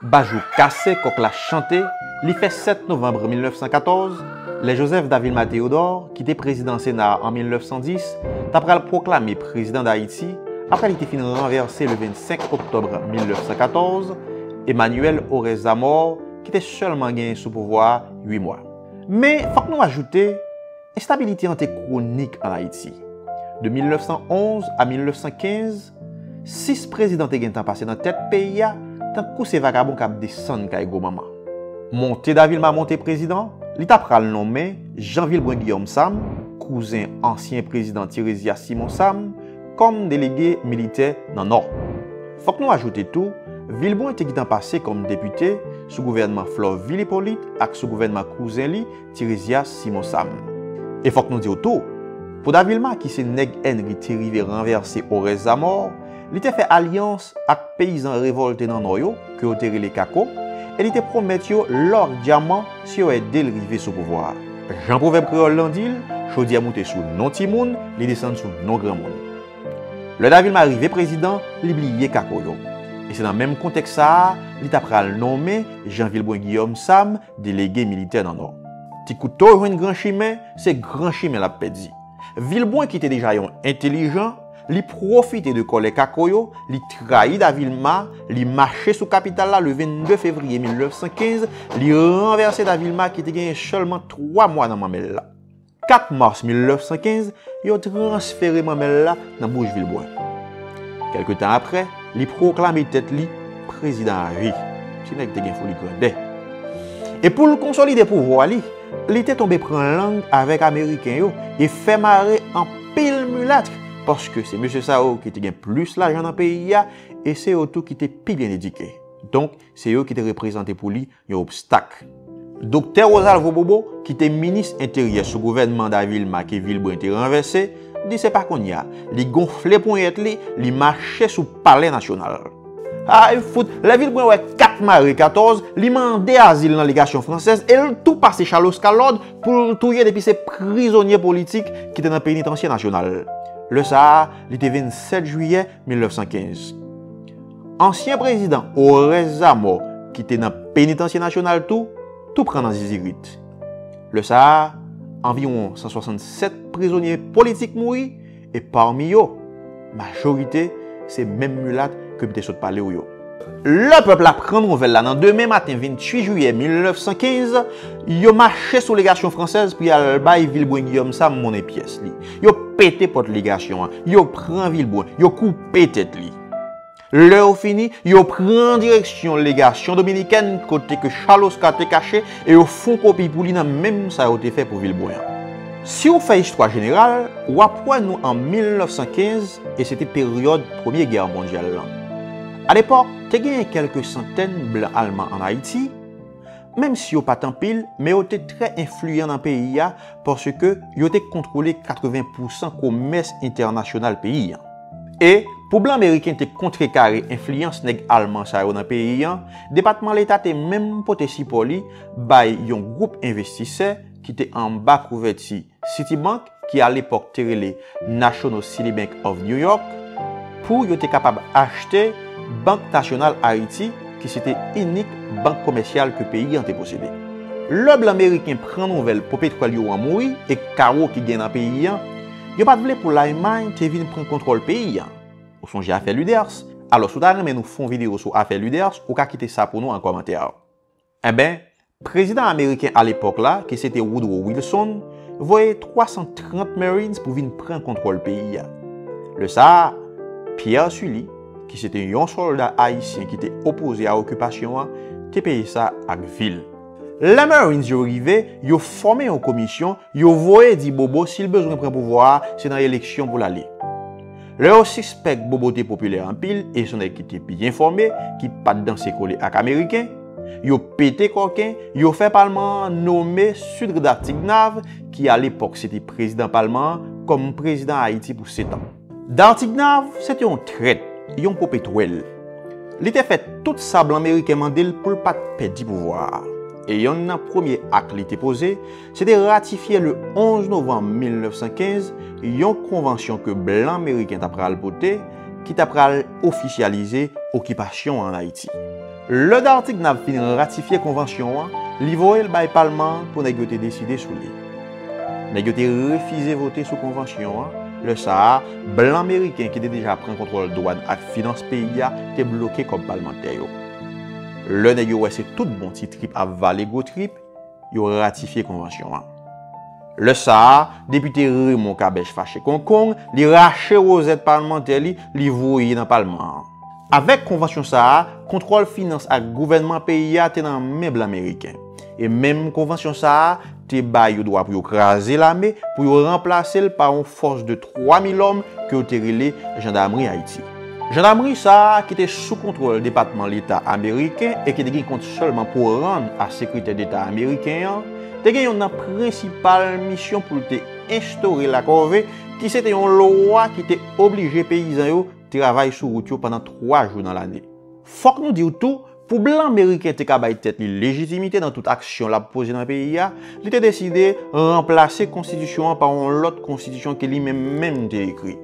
Bajou kase kòk la chante li fè 7 novanbre 1914, lè Joseph Davilma Théodore, ki te prezidan Sena a an 1910, ta pral pwoklame prezidan Dayiti apre li te fin ranvèse le 25 oktòbre 1914, Emmanuel Orès Zamor, ki te sèlman genyen sou pouvwa a 8 mwa. Men, fòk nou ajoute, enstabilite an te kwonik an Ayiti. De 1911 a 1915, 6 prezidan te gentan pase nan tèt peyi a tankou se vagabon kap desann kay gwo manman. Monte Da Vilma monte prezidan, li ta pral nonmen Jean Vilbrun Guillaume Sam, kouzen ansyen prezidan Tirésias Simon Sam, kòm delege militè nan Nò. Fòk nou ajoute tou, Vilbrun te gitan pase kòm depite sou gouvènman Florvil Hyppolite ak sou gouvènman kouzen li, Tirésias Simon Sam. E fòk nou di w tou, pou Davilma ki se nèg Enri te rive ranvèse Orès Zamò, li te fè alyans ak peyizan revòlte nan Nò yo, ke yo te rele Kako, e li te pwomèt yo lò ak dyaman si yo ede l rive sou pouvwa a. Jan pwovèb kreyòl lan di l, chodyè moute sou non timoun, li desann sou non granmoun. Lè Davilma rive prezidan, li bliye Kako yo. E se nan menm kontèks sa a, li ta pral nonmen Jean Vilbrun Guillaume Sam Delege militè nan Nò. Ti Kouto jwenn gran chimen, se gran chimen l ap pèdi. Vilbrun ki te deja yon entelijan, li pwofite de kòlè Kako yo, li trayi Davilma, li mache sou kapital la le 22 fevriye 1915, li ranvèse Davilma ki te genyen sèlman twa mwa nan manmèl la. 4 mas 1915, yo transfere Mamèl la nan bouch Vilbrun. Kèlke tan apre, li pwoklame tèt li prezidan avi. Ti nèg te gen foli grandè. E pou l konsolide pouvwa li, li te tonbe pran lang avèk Ameriken yo e fè mare anpil milat, paske se mesye sa yo ki te gen plis lajan nan peyi a e se yo tou ki te pi byen edike. Donk, se yo ki te reprezante pou li yon obstak. Doktè Rosalvo Bobo, ki te minis enteryè sou gouvènman Davilma ke Vilbrun te ranvèse, di se pa kounye a. Li gonfle ponyèt li, li mache sou palè nasyonal. Ay fout, lè Vilbrun wè 4 mare 14, li mande azil nan legasyon fransèz e l tou pase chaloska lòd pou l touye depi se prizonye politik ki te nan penitansye nasyonal. Lè sa a, li te 27 jiyè 1915. Ansyen prezidan Oreste Zamor ki te nan Penitansye Nasyonal tou, tou pran nan zizirit. Lè sa a, anviwon 167 prizonye politik mouri e pami yo, majorite se menm milat ke m te sot pale w yo. Lè pèp la pran nouvèl la nan demen maten 28 jiyè 1915, yo mache sou legasyon fransèz pou y al bay Vilbrun Guillaume Sam monnen pyès li. Yo pete pòt legasyon an, yo pran Vilbrun, yo koupe tèt li. Lè yo fini, yo pran direksyon legasyon dominikèn kote ke Charles Oscar te kache e yo fon kopi pou li nan menm sa yo te fè pou Vilbrun an. Si ou fè istwa jeneral, w ap wè nou an 1915 e se te peryòd Premye Gè Mondyal lan. Alepòk, te genyen kèlke santèn blan alman ann Ayiti, menm si yo pa t anpil, men yo te trè enfliyan nan peyi a paske yo te kontwole 80 pousan komès entènasyonal peyi a. E, pou blan meriken te kontrekare enfliyans nèg alman sa yo nan peyi a, Depatman Leta te menm pote sipò li bay yon gwoup envestisè ki te anba kouvèti Citibank, ki alepòk te rele National City Bank of New York, pou yo te kapab achte Bank Nasyonal Ayiti ki se te inik bank komèsyal ke peyi an te posede. Lè blan meriken pran nouvèl popetwèl yo an mouri e kawo ki gen nan peyi an, yo pa t vle pou Lalmay te vin pran kontwòl peyi an. Ou sonje afè Luders? Alò si w ta renmen nou fon videyo sou afè Luders, ou ka kite sa pou nou an kòmantè. Enben, prezidan ameriken alepòk la, ki se te Woodrow Wilson, voye 330 Marines pou vin pran kontwòl peyi a. Lè sa a, Pierre Sully, ki se te yon sòlda ayisyen ki te opoze a okipasyon an, te peye sa ak vi l. Lè Marines yo rive, yo fòme yon komisyon, yo voye di Bobo si l bezwen pran pouvwa a, se nan eleksyon pou l ale. Lè yo sispèk Bobo te popilè anpil e son nèg ki te byen fòme, ki pa t danse kole ak Ameriken, yo pete kòken, yo fè palman an nome Sudre Dartignave, ki alepòk se te prezidan palman an, kòm prezidan Ayiti pou setan. Dartignave se te yon trèt, yon popetwèl. Li te fè tout sa blan meriken mande l pou l pa t pèdi pouvwa a. E yonn nan premye ak li te poze, Se te ratifye le 11 novanm 1915 yon konvansyon ke blan meriken ta pral pote ki ta pral ofisyalize okipasyon an Ayiti. Lè Dartignave fin ratifye konvansyon an, li voye l bay palman an pou nèg yo te deside sou li. Nèg yo te refize vote sou konvansyon an, lè sa a, blan meriken ki te deja pran kontwòl dwàn ak finans peyi a te bloke kòb palmantè yo. Lè nèg yo wè se tout bon ti trip ap vale gwo trip, yo ratifye konvansyon an. Lè sa a, depite Raymond Kabèch fache konkong, li rache wozèt palmantè li, li voye nan palman an. Avèk konvansyon sa a, kontwòl finans ak gouvènman peyi a te nan men blan meriken. E menm konvansyon sa a te ba yo dwa pou yo kraze lame, pou yo ranplase l pa yon fòs de 3 mil òm ke yo te rele Jandamri Ayiti. Jandamerie sa a, ki te sou kontwòl Depatman Leta Ameriken e ki te gen kont sèlman pou rann a Sekretè Deta Ameriken an, te gen youn nan prensipal misyon pou l te enstore lakòve, ki se te yon lwa ki te oblije peyizan yo travay sou wout yo pandan twa jou nan lane. Fòk nou di w tou, Pou blan meriken te ka bay tèt li lejitimite nan tout aksyon l ap poze nan peyi a, li te deside ranplase konstitisyon an pa yon lòt konstitisyon ke li menm menm te ekri.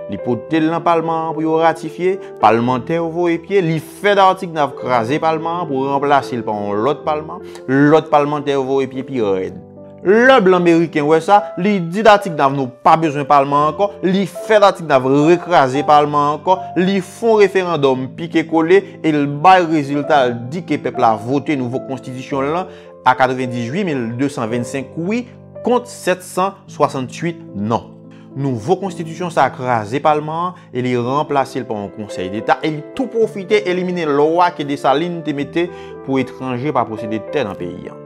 Li pote l nan palman an pou yo ratifye, palmantè yo voye pye, li fè Dartigues Nave kraze palman an pou ranplase l pa yon lòt palman, lòt palmantè yo voye pye pi rèd. Lè blan meriken wè sa, li di Datignav nou pa bezwen palman ankò, li fè Datignav rekraze palman ankò, li fon referandòm pike kole e l bay rezilta l di ke pèp la vote nouvo konstitisyon l lan a 98 mil 225 wi kont 768 non. Nouvo konstitisyon sa a kraze palman an e li ranplase l pa yon konsèy deta e li tou pwofite elimine lwa ke Desalin te mete pou etranje pa posede tè nan peyi an.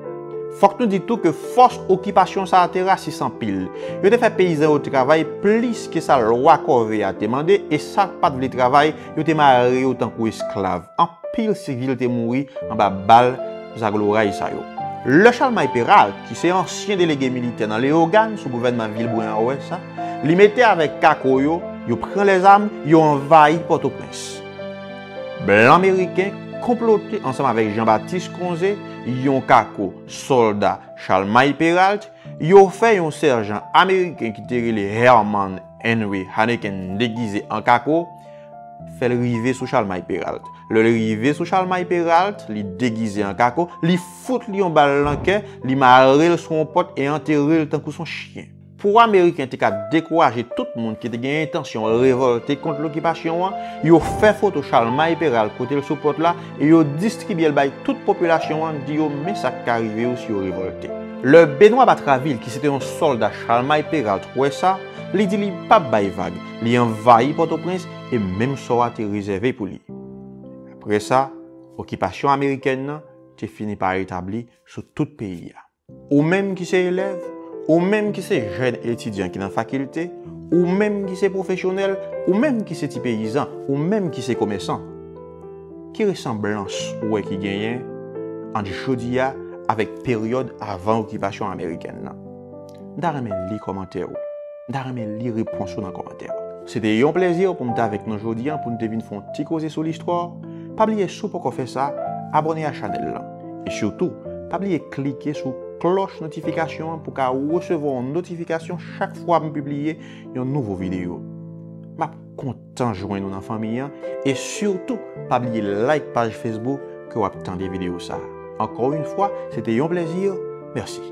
Fòk nou di tou ke fòs okipasyon sa a te rasis anpil. Yo te fè peyizan yo travay plis ke sa lwa kòve a te mande e sa k pa t vle travay Yo te mare yo tankou esklav. Anpil sivil te mouri anba bal zagloray sa yo. Lè Chalmay Peralt, ki se ansyen delege militè nan Leyogàn sou gouvènman Vilbrun an wè sa, li mete avèk kako yo, yo pran lèzam, yo anvayi Pòtoprens. Blan meriken konplote ansanm avèk Janbatis Konze, yon kako sòlda Chalmay Peralt, yo fè yon sèjan ameriken ki te rele Herman Henry Hanneken degize an kako, fè l rive sou Chalmay Peralt. Lè l rive sou Chalmay Peralt, li degize an kako, li fout li yon bal nan kè, li mare l sou yon pòt e antere l tankou son chyen. Pou Ameriken te ka dekouraje tout moun ki te gen entansyon revòlte kont lokipasyon an, yo fè foto Chalmay Peralt kote l sou pòt la, e yo distribye l bay tout popilasyon an, di yo men sa k ka rive yo si yo revòlte. Lè Benwa Batravil ki se te yon sòlda Chalmay Peralt wè sa, li di li pa p bay vag, li anvayi Pòtoprens e menm sò a te rezève pou li. Apre sa, okipasyon amerikèn nan te fini pa etabli sou tout peyi a. Ou menm ki se elèv, ou menm ki se jèn etidyan ki nan fakilte, ou menm ki se pwofesyonèl, ou menm ki se ti peyizan, ou menm ki se komèsan, ki resanblans ou wè ki genyen ant jodi a avèk peryòd avan okipasyon amerikèn nan? M ta renmen li kòmantè ou. M ta renmen li repons ou nan kòmantè yo. Se te yon plezi pou m t avèk nou jodi an pou n te vin fè yon ti koze sou listwa. Pa bliye si w poko fè sa, abòne a chanèl lan. E sitou, pa bliye klike sou klòch notifikasyon an pou w ka resevwa yon notifikasyon chak fwa m pibliye yon nouvo videyo. M ap kontan jwenn ou nan fanmi an e sitou pa bliye like paj Facebook ke w ap tande videyo sa. Ankò yon fwa, se te yon plezi. Mèsi.